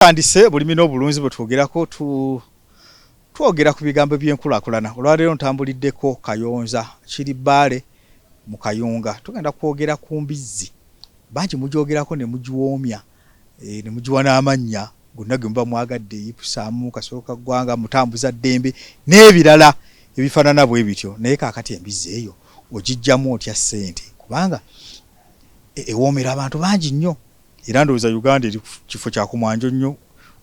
Tutandise bulimi n'obulunzi bwe twogerako tu twogera ku bigambo by'enkulakulana. Olwaleero ntambuliddeko Kayonza kiri Bbaale mu Kayunga. Tugenda kwogera ku mbizzi. Bangi mugyogerako ne mugiwoomya eh, ne mugiwa n'amannya gonna ge muba mwagadde, Ipusaamu, Kasolo ka Ggwanga, Mutambuza Ddembe n'ebirala ebifaanana bwe bityo. Naye kaakati embizzi eyo ogiggyamu otya ssente? Kubanga e, ewoomera abantu bangi nnyo. Era ndowooza Uganda eri kifo kyakumwanjo nnyo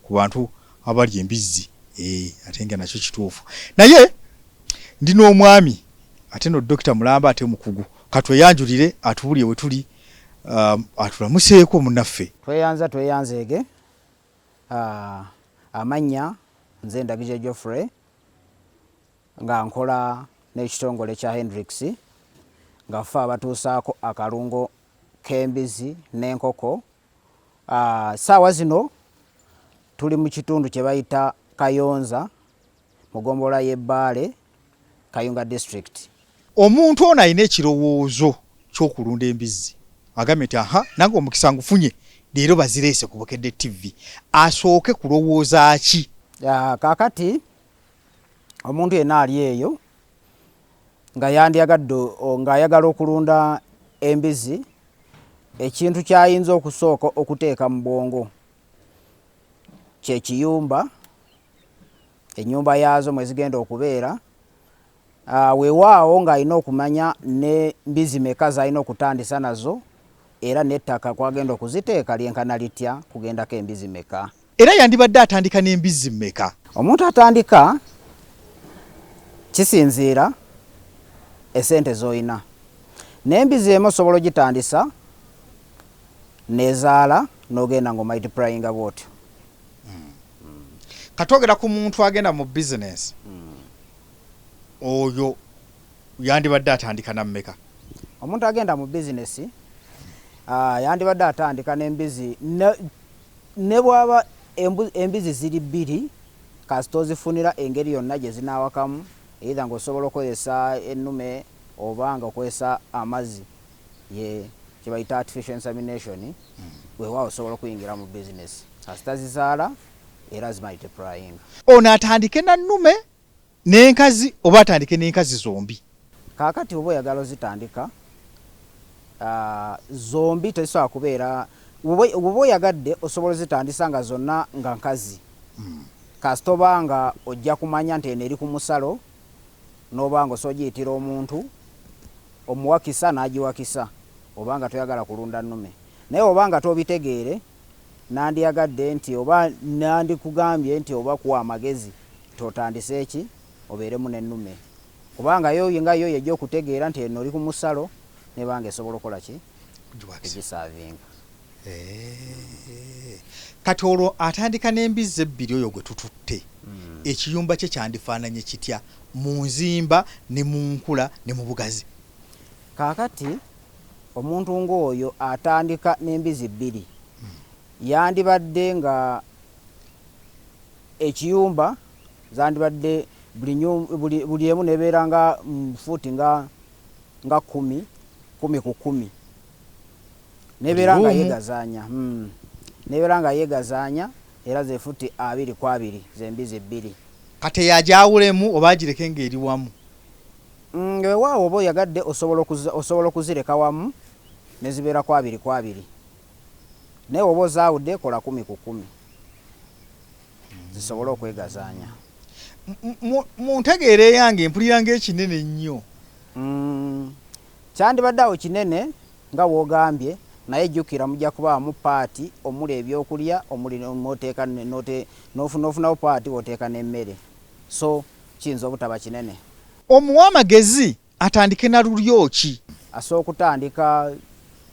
ku bantu abalya embizzi eeh ate nga nakyo kituufu naye ndi n'omwami ate no dokita mulamba ate mukugu katweyanjulire atubulye wetuli um, atulamuseeko munaffe tweyanza tweyanzeege uh, amannya nze ndagije Geoffrey nga nkola n'ekitongole kya Hendrix nga ffe abatuusaako akalungo k'embizi n'enkoko saawa zino tuli mu kitundu kye bayita Kayonza mu gombolola y'e Bbaale Kayunga district. Omuntu ono alina ekirowoozo ky'okulunda embizzi agambye nti aha nange omukisa ngufunye leero bazireese ku Bukedde TV asooke kulowooza ki? Kaakati omuntu yenna ali eyo nga yandyagadde ng'ayagala okulunda embizzi ekintu ky'ayinza okusooka okuteeka mu bwongo kye kiyumba, ennyumba yaazo mwe zigenda okubeera. Ah, weewaawo ng'alina okumanya ne mbizi meka z'alina okutandisa nazo era n'ettaka kw'agenda okuziteeka lyenkana litya kugendako embizi meka. Era yandibadde atandika n'embizzi mmeka? Omuntu atandika kisinziira esente z'olina. N'embizzi emu osobola ogitandisa nezaala n'ogenda ng'omultiplyinga bw'otyo. Hmm. Katwogera ku muntu agenda mu bizinensi hmm. oyo yandibadde atandika na mmeka? Omuntu agenda mu bizinesi ah, yandibadde atandika n'embizzi Ne bw'aba embu, embizi ziri bbiri, kasita ozifunira engeri yonna gye zinaawakamu, either nga osobola okozesa ennume oba nga okozesa amazzi, ye kye bayita artificial insemination, weewaawo osobola okuyingira mu bizinesi kasita zizaala era zimultiplyinga. Ono atandike na nnume nenkazi oba atandike nenkazi zombi. Kakati oba oyagala ozitandika zombi tezisobola kubeera woba oyagadde osobola ozitandisa nga zonna nga nkazi hmm. kasita oba nga ojja kumanya nti eno eri ku musalo n'oba nga osobola ogiyitira omuntu omuwakisa n'agiwakisa oba nga toyagala kulunda nnume naye oba nga tobitegeere nandyagadde nti oba nandikugambye nti oba kuwa amagezi totandise ki obeeremu n'ennume kubanga yo nga yo yejja okutegeera nti eno oli ku musalo nebanga esobola okola ki egisaavinga eh. kati olwo atandika n'embizzi ebbiri oyo gwe tututte hmm. ekiyumba kye kyandifaananye kitya mu nzimba ne mu nkula ne mu bugazi kaakati omuntu ng'oyo atandika n'embizi bbiri hmm. yandibadde nga ekiyumba zandibadde buli nyu buli buli emu nebeera nga mu fuuti nga nga kumi kumi ku kumi nebeera nga yegazaanya mm. nebeera nga yegazaanya era ze fuuti abiri ku abiri zembizi bbiri kate yagyawulemu oba agireke ng'eri wamu mm, wewaawo oba oyagadde osobola okuzireka wamu nezibeera kwabiri kwabiri Naye woba ozawude kola kumi ku kumi zisobole okwegazanya. Muntegeera eyange mpulira nga ekinene nnyo. Mm, kyandibadde awo kinene nga wogambye naye jjukira mujja kubaamu paati omuli ebyokulya omuli noteeka nofunawo paati woteeka n'emmere so kiyinza obutaba kinene. Omuwa amagezi Atandike na lulyo ki? Asobola okutandika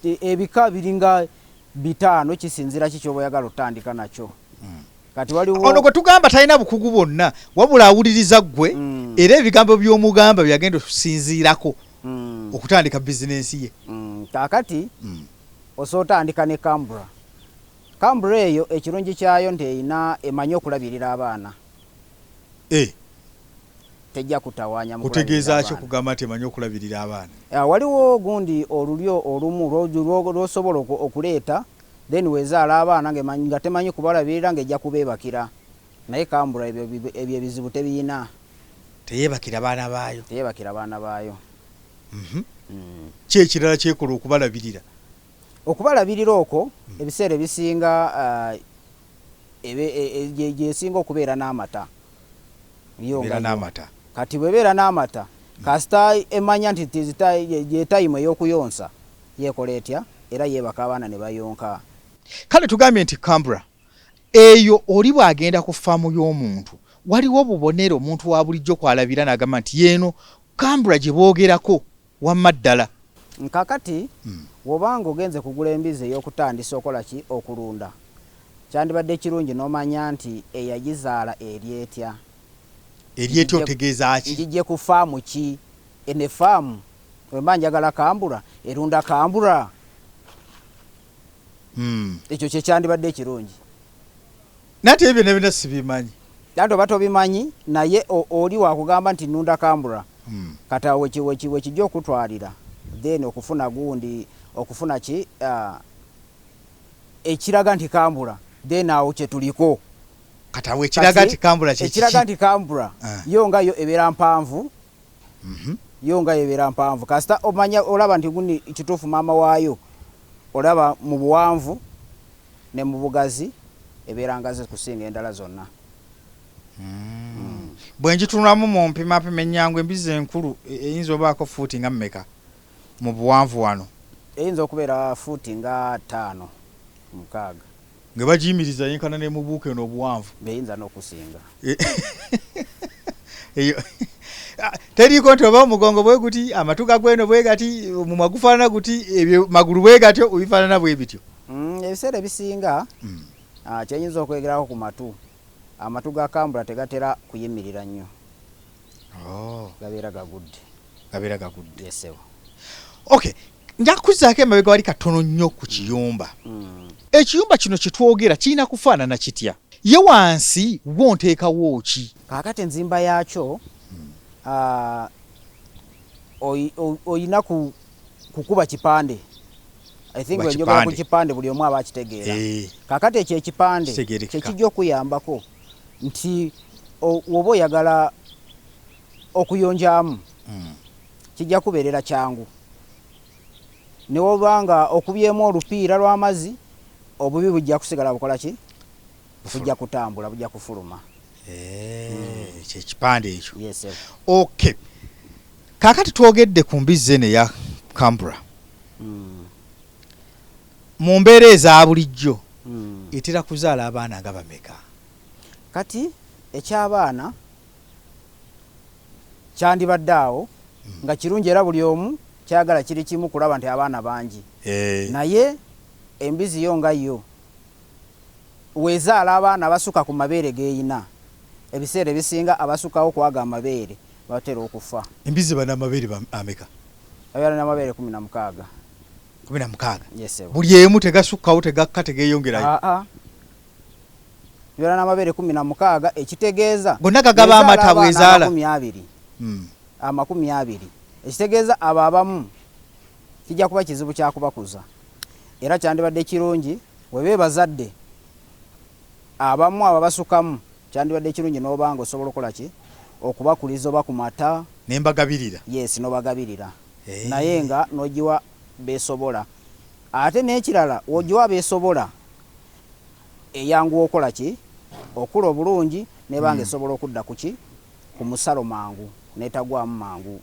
e, ebika biringa bitaano kisinzira ki kyoba oyagala otandika nakyo hmm. kati waliwo ono gwe tugamba talina bukugu bwonna wabula awuliriza ggwe hmm. era ebigambo by'omugamba byagenda okusinziirako hmm. okutandika bizinensi ye kakati osobola otandika ne cambra cambra eyo ekirungi kyayo nti erina emanyi okulabirira abaana eh. tejja kutawaanya mu kutegeeza ki okugamba nti emanyi okulabirira abaana ah, waliwo gundi olulyo olumu lwosobola okuleeta then wezaala abaana nga temanyi kubalabirira nga ejja kubeebakira naye kambula ebyo ebizibu tebiyina teyebakira baana baayo teyebakira baana baayo mhm. mm. ki ekirala kyekola okubalabirira okubalabirira okwo mm. ebiseera ebisinga ah, ebe e, gyesinga okubeera n'amata kati bwebeera n'amata kasita emanya nti gyetayimu ey'okuyonsa yekola etya era yebaka abaana ne bayonka kale tugambye nti cambra eyo oli bw'agenda ku faamu y'omuntu waliwo obubonero omuntu wa bulijjo kw'alabira n'agamba nti yeeno cambra gye boogerako Wamma ddala. Kakati woba nga ogenze kugula embizi eyokutandisa okola ki? Okulunda? Kyandibadde kirungi nomanya nti eyagizaala eri etya? Eri etya otegeeza ki? Njijje ku farm ki? Eno e farm wemba njagala kambura erunda kambura? Ekyo kyekyandibadde ekirungi. Nate ebyo ne bina sibimanyi. Nate oba tobimanyi naye oli wakugamba nti nunda kambura hmm. kata weki weki weki jo kutwalira then okufuna gundi okufuna ki uh, ekiraga nti kambura then awo kyetuliko kata wekiraga nti kambura kyekichi ekiraga nti kambura uh. Eh. yo nga yo ebera mpanvu mm -hmm. yo nga ebera mpanvu kasita omanya olaba nti gundi kitufu mama wayo olaba mu buwanvu ne mu bugazi ebeera ngazi kusinga endala zonna. Bwe ngitunulamu mu mpimapima ennyangu, embizzi enkulu eyinza obaako ffuuti nga mmeka mu buwanvu wano? Eyinza okubeera ffuuti nga ttaano, mukaaga. Nga bagiyimiriza yenkana ne mu buuka eno obuwanvu? Eyinza n'okusinga. eyo ah, teriiko nti oba omugongo bwe guti amatu gagweno bwe gati omumwa gufaanana guti ebyo magulu bwe gatyo obifaanana bwe bityo mm, ebiseera ebisinga mm. ah, kyenyinza okwegerako ku matu amatu ga kambula tegatera kuyimirira nnyo oh. gabeera gagudde gabeera gagudde yesebo okay nja kukuzaako emabega wali katono nnyo ku kiyumba mm. ekiyumba kino kyetwogera kirina kufaanana kitya ye wansi wo nteekawo ki kakati enzimba yaakyo ah, olina kukuba kipande enjogera ku kipande buli omu aba akitegeera eh. kakati ekyo ekipande kyekijja okuyambako nti oba oyagala okuyonjamu hmm. Kijja kukubeerera kyangu ne woba nga okubyemu olupiira lw'amazzi, obubi bujja kusigala bukola ki? Bujja kutambula, bujja kufuluma. Eeeh, ekyo ekipande ekyo. Yes sebo. Ok. Kaakati twogedde ku mbizzi eno eya Cambra. Mu mbeera eza bulijjo etera kuzaala abaana nga bameka? Kati eky'abaana. kyandibadde awo nga kirungi era buli omu kyayagala kiri kimu kulaba nti abaana bangi naye embizi yo nga yo wezaala abaana abasukka ku mabeere geyina ebiseera ebisinga abasukawo kwago amabeere batera okufa. Embizi eba n'amabeere ameka? Ebeera n'amabeere kumi na mukaaga. Kumi na mukaaga? Yes, buli emu tegasukkawo tegakka tegeyongerayo? Aa. Bibeera n'amabeere kumi na mukaaga ekitegeeza gonna gagaba amata bwezaala amakumi abiri hmm. amakumi abiri ekitegeeza abo abamu kijja kuba kizibu kyakubakuza era kyandibadde kirungi weba ebazadde abamu abo basukamu kyandibadde kirungi n'obanga osobola okukola ki okubakuliza oba ku mata nembagabirira yes nobagabirira hey. Eh. naye nga nogiwa besobola ate n'ekirala wogiwa besobola eyanguwa okola ki? okula obulungi neba nga esobola okudda ku ki? ku musalo mangu netagwamu mangu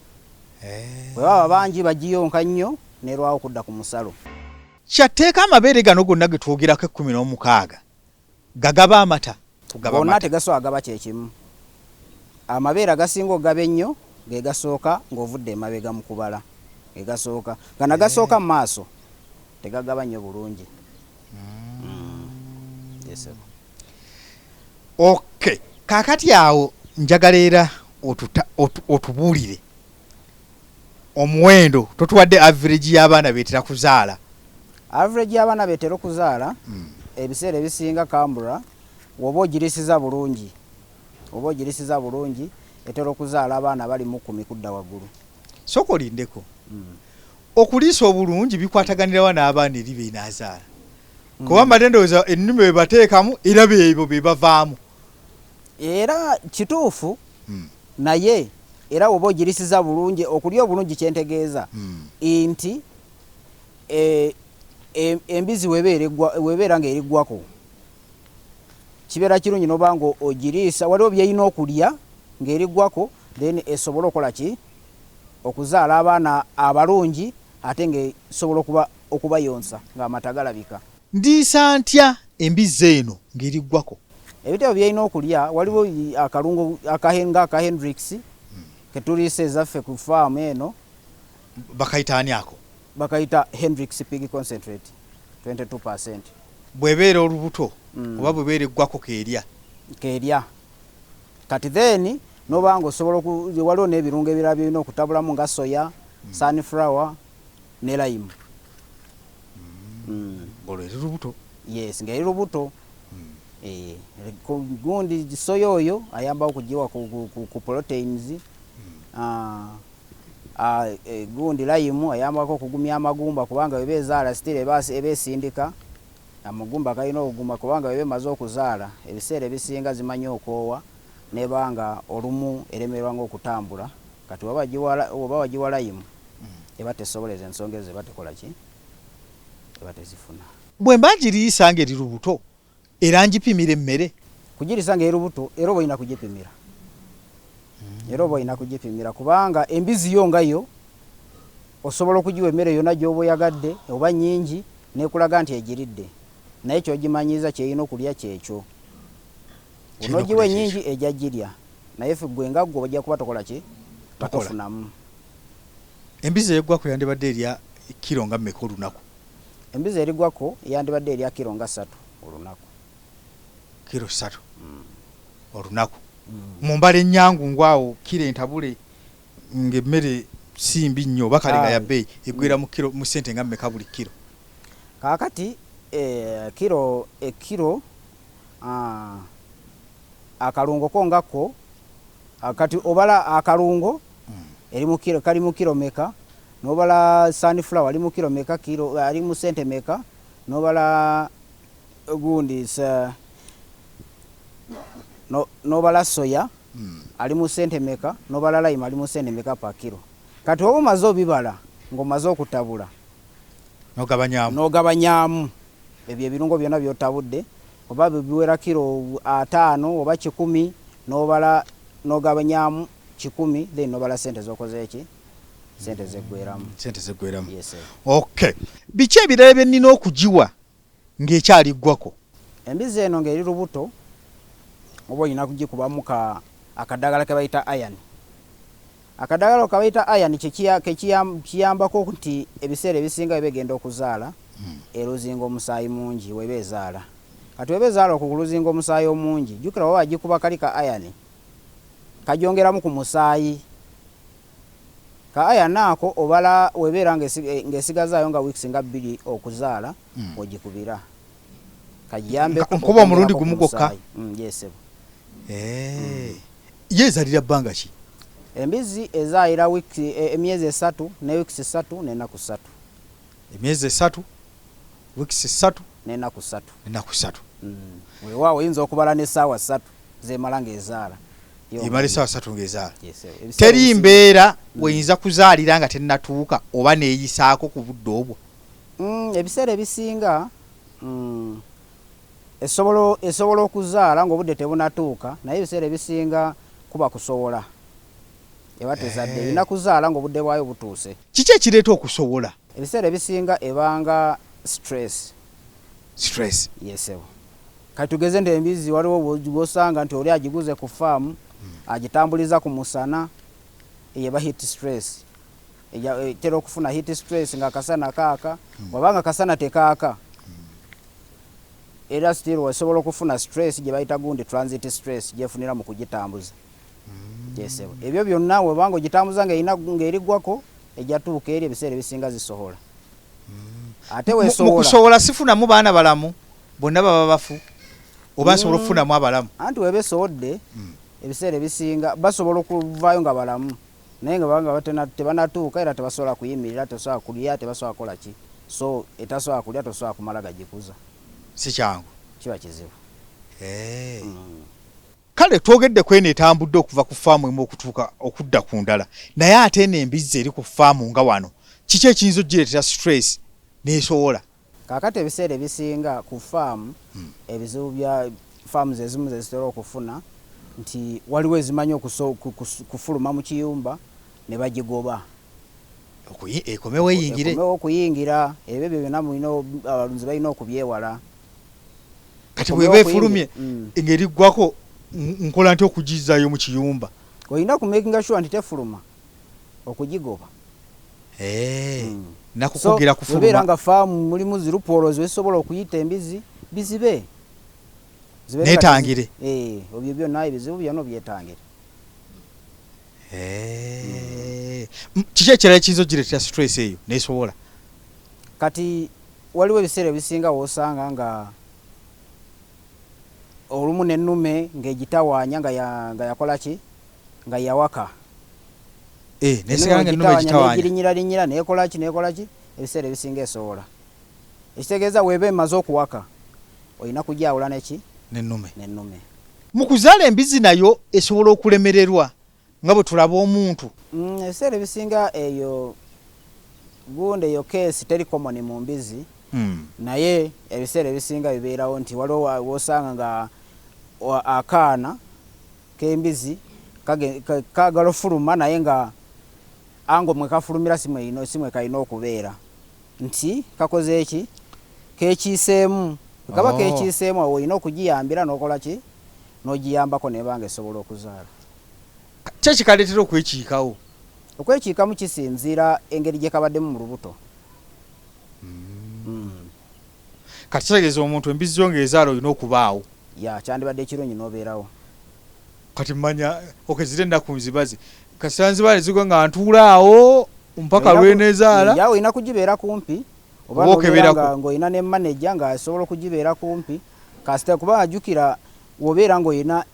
bwebaba bangi bagiyonka nnyo nerwawo okudda ku musalo. Kya tteeka amabeere gano gonna ge twogerako ekkumi n'omukaaga gagaba amata? Gonna tegasobola gaba kye kimu. Amabeere agasinga okugaba ennyo ge gasooka ng'ovudde emabega mu kubala. Ge gasooka. Gano agasooka mu maaso tegagaba nnyo bulungi. okay kakati awo njagala era otubuulire omuwendo totuwadde average y'abaana betera kuzaala average y'abaana betera okuzaala hmm. ebiseera ebisinga kambura woba ogirisiza bulungi oba ogirisiza bulungi etera okuzaala abaana bali mukumi kudda waggulu soka olindeko hmm. Okuliisa obulungi bikwataganira wa n'abaana eri b'enaazaala? Hmm. Kuba mbadde ndowooza ennume be bateekamu era beebo be bavaamu. Era kituufu hmm. naye era woba ogirisiza bulungi okulya obulungi kyentegeeza hmm. nti e, e, embizi webeera nga eriggwako kibeera kirungi noba nga ogiriisa waliwo byeyina okulya ng'eriggwako then esobole okola ki okuzaala abaana abalungi ate ng'esobola okuba okubayonsa ng'amata galabika. Ndiisa ntya embizzi eno ng'eriggwako? Ebitabo by'erina okulya waliwo akalungo nga aka Hendrix ke tuliisa ezaffe ku faamu eno. Bakayita ani ako? Bakayita Hendrix Pig Concentrate 22%. Bw'ebeera olubuto oba bw'ebeera eggwako k'erya? K'erya. Kati then noba nga osobola oku waliwo nebirungo ebirala byolina okutabulamu nga soya, mm. sunflower ne lime. Mm. Mm. Ngolo eri lubuto. Yes, nga eri lubuto. Mm. Eh, gundi soya oyo ayamba okujiwa ku, ku, ku, ku proteins. Mm. Ah, ah, eh, gundi lime ayambako okugumya amagumba kubanga ebe ezaala still ebe esindika. Amugumba galina okuguma kubanga bweba emaze okuzaala ebiseera ebisinga zimanyi okoowa neba nga olumu eremererwa nga okutambula kati bwoba wagiwa layimu eba tesobola ezo ensonga ezo eba tekola ki eba tezifuna. Bwemba ngiriisa nga eri lubuto era ngipimira emmere? Kugiriisa nga eri lubuto era oba olina kugipimira era oba olina kugipimira kubanga embizi yo nga yo osobola okugiwa emmere yona gyoba oyagadde oba nyingi N'ekulaga nti egiridde, naye ky'ogimanyiiza ky'erina okulya ky'ekyo. Bw'onoogiwa ennyingi ejja girya, naye ffe ggwe nga ggwe ojja kuba tokola ki? Nga tofunamu. Embizzi ey'eggwako yandibadde erya kkiro nga mmeka olunaku? Embizzi erigwako yandibadde erya kkiro nga ssatu olunaku. Kkiro ssatu olunaku. Mu mbala ennyangungu awo kkiro entabule ng'emmere si mbi nnyo oba kale nga ya bbeeyi eggweera mu kkiro mu ssente nga mmeka buli kkiro? Kaakati ekkiro ekkiro akalungo ko nga ko kati obala akalungo eri mu kkiro kali mu kkiro meka n'obala sunflower ali mu kkiro meka kkiro ali mu ssente meka n'obala gundi n'obala soya. ali mu sente meka nobala lime ali mu sente meka per kilo kati oba omaze obibala ngo maze okutabula nogabanyamu nogabanyamu ebyo ebirungo byona byotabudde oba biwera kilo atano oba kikumi nobala nogabanyamu kikumi then nobala sente zokoze eki sente zegweramu sente zegweramu yes, okay biki ebirala byenina okugiwa ng'ekyali ggwako. Embizzi eno ng'eri lubuto oba olina kugikubamu ka akadagala ke bayita iron. Akadagala ako ke bayita iron kye kiya ke kiya kiyambako nti ebiseera ebisinga bw'eba egenda okuzaala eluzinga omusaayi mungi bw'eba ezaala. Kati bw'eba ezaala okwo kuluzinga omusaayi omungi jjukira bw'oba wagikuba kali ka iron kagyongeramu ku musaayi. Ka ayana ako obala webeera ng'esigazaayo nga weeks nga bbiri okuzaala ogikubira kajjambeko nkuba omulundi gumu gwokka mm, yesebo eh. ye ezalira bbanga ki embizzi ezaayira e, emyezi esatu ne wiks satu nenaku satu emyezi esatu wiks satu nenaku satu enaku satu mm. weewaawo oyinza okubala n'essaawa satu zemala ng'ezaala emala essaawa satu ng'ezaala teri mbeera mm. weyinza kuzaalira nga tennatuuka oba neeyisaako ku budde obwo mm, ebiseera ebisinga mm, esobola okuzaala ng'obudde tebunatuuka naye ebiseera ebisinga kuba kusobola eba tezadde erina eh. kuzaala ng'obudde bwayo butuuse kiki ekireeta okusobola ebiseera ebisinga ebanga stress stress yesebo Kati tugeze nti embizzi waliwo gwosanga nti oli agiguze ku farm hmm. agitambuliza ku musana eyeba heat stress e, tera okufuna heat stress nga kasana kaaka hmm. wabanga kasana tekaaka hmm. era still wasobola okufuna stress gye bayita gundi transit stress gyefunira mu kugitambuza yesebo ebyo byonna webanga ogitambuza ngaerigwako ejatuuka eri ebiseera ebisinga zisobola ate wesobola sifunamu baana balamu bonna baba bafu oba nsobola mm. okufunamu abalamu anti weba esobodde mm. ebiseera ebisinga basobola okuvaayo nga balamu naye nga banga tebanatuuka era tebasobola kuyimirira tebasobola kulya tebasobola kukola ki so etasobola kulya tosobola kumala gagikuza sikyangu kiba kizibu eh. mm. Kale twogedde ku eno etambudde okuva ku ffaamu emu okutuuka okudda ku ndala, naye ate eno embizzi eri ku ffaamu nga wano, kiki ekiyinza okugireetera situleesi n'esowola? Kaakati ebiseera ebisinga ku ffaamu ebizibu bya ffaamu ezimu ze zitera okufuna nti waliwo ezimanyi okufuluma mu kiyumba ne bagigoba ekomewo okuyingira. Ebyo byonna abalunzi balina okubyewala. kati bweba efulumye mm. ngeriggwako nkola nti okugizayo mu kiyumba olina kumakinga sure nti tefuluma okugigoba eh, mm. nakukugira kufuluma nga faamu mulimu zirupoolo ziwesobola okuyita embizi bizibe netangire eh, obyo byonna ebizibu byona obyetangire eh. kiki ekirala ekiyinza ogiretera stress eyo nesobola kati Waliwo ebiseera ebisinga w'osanga nga olumu n'ennume ng'egitawaanya nga ya, nga yakola ki? Nga yawaka. Eh, n'esigala nga ennume egitawaanya. N'egirinyirarinyira, n'ekola ki, n'ekola ki, ebiseera ebisinga esowola. Ekitegeeza w'eba emaze okuwaka, olina kugyawula ne ki? N'ennume. N'ennume. Mu kuzaala embizzi nayo esobola okulemererwa nga bwe tulaba omuntu. Mm, ebiseera ebisinga eyo gundi eyo keesi teri komoni mu mbizi mm. naye ebiseera ebisinga bibeerawo nti waliwo wosanga nga akaana k'embizi kagala ofuluma naye nga ango mwe kafulumira si mwe kalina okubeera nti kakoze eki kekiiseemu kaba oh. kekiiseemu awo olina okugiyambira n'okola ki n'ogiyambako n'eba ng'esobola okuzaala. Ki ekikaleetera okwekiikawo? Okwekiikamu kisinziira engeri gye kabaddemu mu lubuto. Kati kitegeeza omuntu embizzi zo ng'ezaala olina okubaawo. Ya, kyandibadde ekirungi n'obeerawo. Kati mmanya, okay, ziri ennaku nzibaze. Kasita nzibaale zigwa nga ntuula awo mpaka Olina ku- lw'eneezaala? Ya, olina kugibeera kumpi. Oba Oba n'obeera okeberako. nga- ng'olina ne maneja ng'asobola okugibeera kumpi. kasita kuba ajukira wobeera nga olina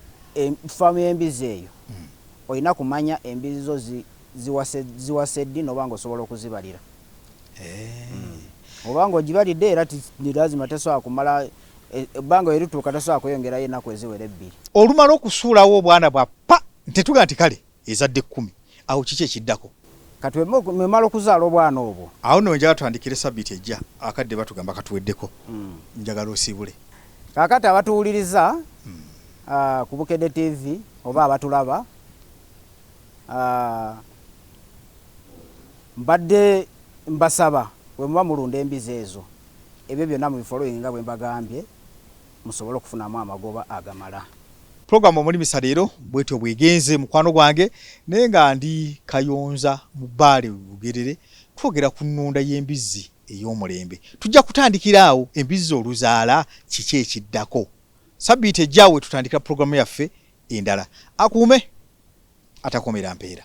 faamu y'embizzi eyo hmm. olina kumanya embizzi zo ziwase ddi noba nga osobola okuzibalira eh. hmm. oba nga ogibalidde era nilazima tesobola kumala eh, ebbanga erituuka tesobola kweyongerayo enaku eziwera ebbiri olumala okusuulawo obwana bwa pa ntetuga nti kale Ezadde kkumi. Awo kiki ekiddako? Kati bwe muba mumala okuzaala obwana obwo. Awo nno we njagala tutandikire sabbiiti ejja. Akadde batugamba katuweddeko. Njagala osiibule. Kaakati abatuwuliriza ku Bukedde TV oba abatulaba, mbadde mbasaba bwe muba mulunda embizi ezo, ebyo byonna mubifolowinge nga bwe mbagambye. musobole okufunamu amagoba agamala. Program omulimisa leero bwetyo bwegenze mukwano gwange naye nga ndi kayonza mu bbaale lugerere twogera ku nnunda y'embizzi ey'omulembe tujja kutandikira awo embizzi oluzaala kiki ekiddako sabbiiti ejja we tutandikira pulogulaamu yaffe endala akuume atakomera mpeera